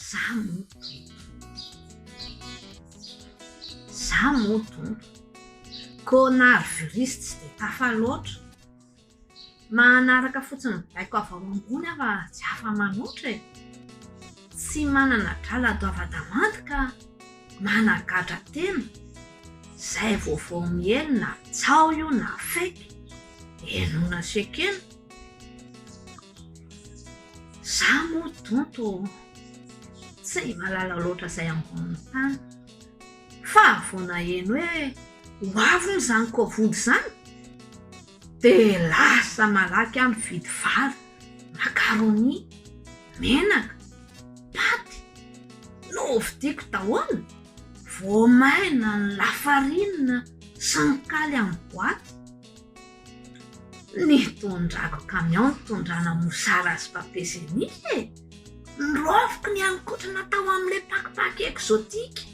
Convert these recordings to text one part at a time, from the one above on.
Za moto e. Za moto. Kônary virus tsy dia tafa loatra. Manaraka fotsiny baiko avy ao ambony aho fa tsy afa-manoatra e! Tsy manana drala doava-damandy ka managadra tena, izay vaovao miely na tsaho io na fake, henoina sy ekena. Za moa donto tsy mahalala loatra izay ambonin'ny tany, fa vao naheno hoe ho avy moa izany covid izany, Dia lasa malaky aho mividy vary, macaroni, menaka, paty. Novidiako daholo, voamaina ny lafarinina sy ny kaly amin'ny boaty. Nitondrako camion nitondrana mosara sy papier génie e! Noraofiko ny haninkotrana tao amin'ilay pakipaky exotique.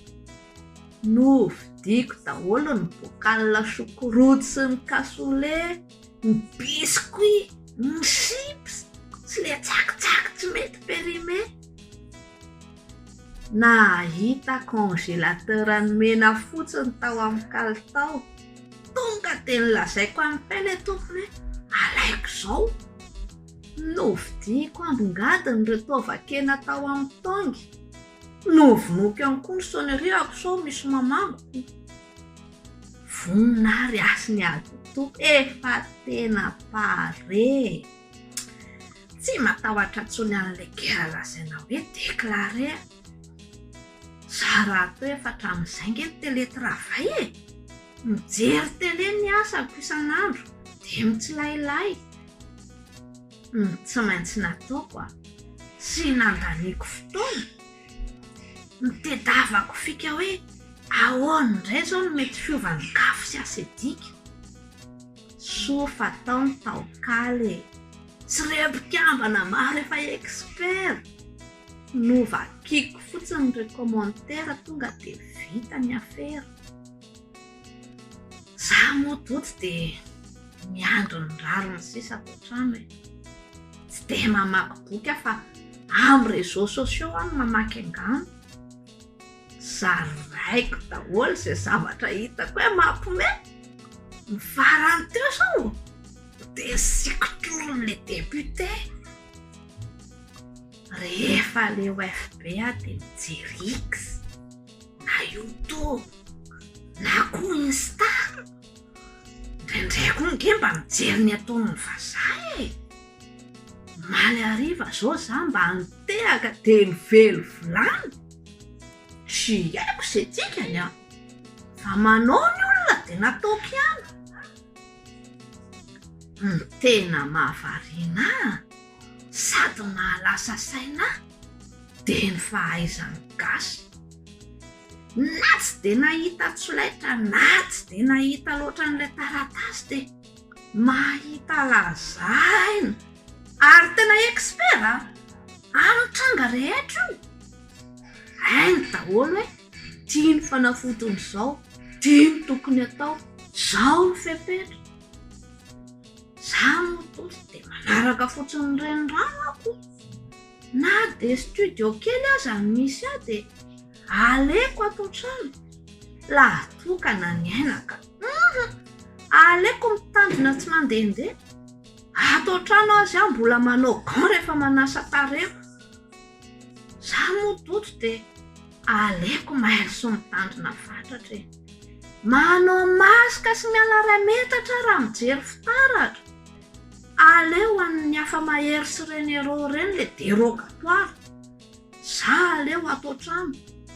Novidiako daholo ny bocal choucroute sy ny cassoulet, ny biscuit, ny chips sy le tsakitsaky tsy mety périmé. Nahita congélateur an'i Mena fotsiny tao amin'ny kalitao, tonga dia nolazaiko an'i Pay le tompony hoe alaiko izao. Novidiako ambongadiny ireo taovan-kena tao amin'ny tongue. Novonoiko ihany koa ny sonnerihako sao misy mamangoko. Vonona ary hasiny ady tompoko e fa tena pare e! Tsy matahotra intsony an'ilay guerre lazaina hoe déclaré a! Za raha atao efa hatramin'izay nge ny télé travail e! Mijery télé ny asako isan'andro dia mitsilailay. no tsy maintsy nataoko a! Tsy nandaniako fotoana, nitedavako fika hoe ahoana indray izao no mety fiovan'ny kafo sy asedika. Soa fa tao ny taon-kaly e! Tsy ireo mpikambana maro efa expert! Novakiko fotsiny ireo commentaires tonga dia vita ny afera. Za moa Tojo dia miandry ny rariny sisa ato an-trano e. Tsy dia mamaky boky aho fa amin'ny réseaux sociaux aho no mamaky angano. Zaraiko daholo izay zavatra hitako hoe mampiomehy. Ny farany teo izao dia sikotron'ilay député rehefa aleo FB aho dia mijery X. Na youtube na koa insta, indraindray koa nge mba mijery ny ataon'ny vazaha e! Omaly hariva zao za mba nitehaka de nivelo vilany, tsy haiko ze dikany an! fa manao ny olona de nataoko ihany, ny tena mahavariana an! Sady nahalasa saina ahy dia ny fahaizan'ny gasy. Na tsy dia nahita tsolaitra na tsy dia nahita loatra an'ilay taratasy dia mahita lazaina ary tena expert a! amin'ny tranga rehetra io. Hainy daholo hoe ity ny fanafotiny izao, ity ny tokony atao, izao ny fepetra. Za moa Tojo dia manaraka fotsiny ny reniranoko, na dia studio kely aza no misy ahy dia aleko ato an-trano laha toa ka na ny aina ka. Humm! Aleko mitandrina tsy mandehandeha, ato an-trano aza aho mbola manao gants rehefa manasa tarehiko. Za moa Toto de aleoko mailo sy mitandrina fatratra e! Manao masque sy miala iray metatra raha mijery fitaratra! Aleo an'ny hafa mahery sy renero ireny le derogatoire! Za aleo ato an-trano!